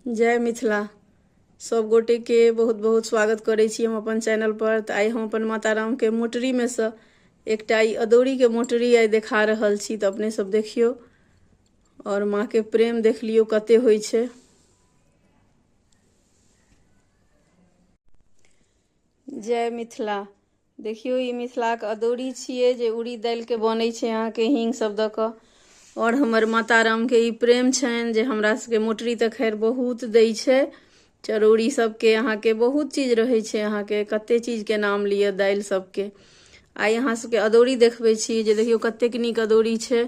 जय मिथिला सब गोटे के बहुत बहुत स्वागत करै छी हम अपन चैनल पर तऽ आइ हम अपन माता राम के मोटरी में से एकटा ई अदौरी के मोटरी आइ देखा रहल छी तऽ अपने सब देखियौ और माँ के प्रेम देख लियौ कते होइ छै जय मिथिला देखियौ ई मिथिलाक अदौरी छियै जे उड़ी दालिके बनै छै अहाँके हींग सब दऽ कऽ आओर हमर माता रामके ई प्रेम छनि जे हमरा सबके मोटरी तऽ खैर बहुत दै छै चरौरी सबके अहाँके बहुत चीज रहै छै अहाँके कते चीजके नाम लिअ दालि सबके आइ अहाँ सबके अदौरी देखबै छी जे देखियौ कतेक नीक अदौरी छै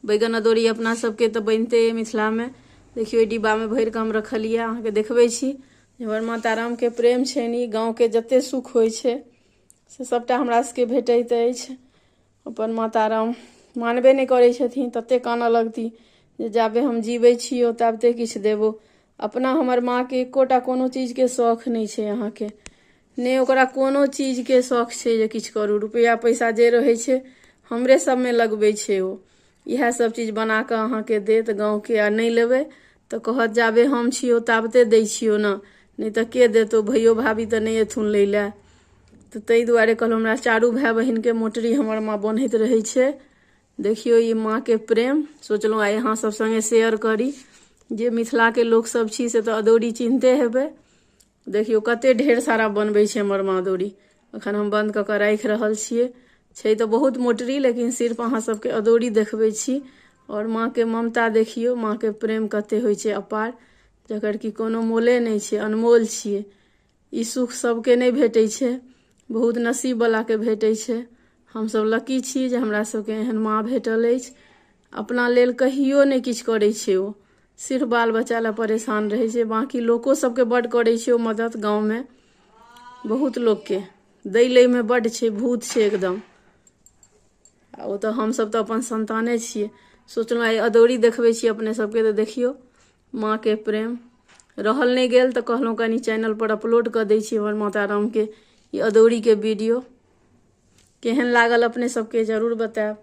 बैगन अदौरी अपना सबके तऽ बनिते अइ मिथिलामे देखियौ ई डिब्बामे भरि कऽ हम रखलियै अहाँके देखबै छी एम्हर माता रामके प्रेम छनि ई गाँवके जतेक सुख होइ छै से सभटा हमरा सभके भेटैत अछि अपन माता राम मानबे नहि करै छथिन ततेक कानऽ लगती जे जाबे हम जीबै छी ओ ताबते किछु देबो अपना हमर माँके एकोटा कोनो चीजके शौख नहि छै अहाँके नहि ओकरा कोनो चीजके शौक छै जे किछु करू रुपैआ पैसा जे रहै छै हमरे सभमे लगबै छै ओ इएह सभ चीज बना कऽ अहाँके देत गाँवके आ नहि लेबै तऽ कहत जाबे हम छियौ ताबते दै छियौ ने नहि तऽ के देतौ भैयो भाभी तऽ नहि एथुन लै लए तऽ ताहि दुआरे कहलहुँ हमरा चारू भाय बहिनके मोटरी हमर माँ बनैत रहै छै देखियौ ई माँके प्रेम सोचलहुँ आइ अहाँ सभ सङ्गे शेयर करी जे मिथिलाके लोकसभ छी से तऽ अदौरी चिन्हते हेबै देखियौ कते ढेर सारा बनबै छै हमर मादोरी अखन हम बन्द कऽ कऽ राखि रहल छियै छै तऽ बहुत मोटरी लेकिन सिर्फ अहाँ सबके अदौरी देखबै छी आओर माँके ममता देखियौ माँके प्रेम कते होइ छै अपार जकर कि कोनो मोले नहि छै अनमोल छियै ई सुख सबके नहि भेटै छै बहुत नसीबवलाके भेटै छै हमसब लकी छी जे हमरा सबके एहन माँ भेटल अछि अपना लेल कहियो नहि किछु करै छै ओ सिर्फ बाल बच्चा लए परेशान रहै छै बाँकी लोको सबके बड करै छै ओ मदद गाँवमे बहुत लोकके दै लैमे बड छै भूत छै एकदम आ ओ तऽ हमसब तऽ अपन संताने छियै सोचलहुँ आइ अदौरी देखबै छी अपने सबके तऽ देखियौ माँके प्रेम रहल नहि गेल तऽ कहलहुँ कनि चैनल पर अपलोड कऽ दै छी हमर माता रामके ई अदौरीके वीडियो केहन लागल अपने सबके जरूर बतायब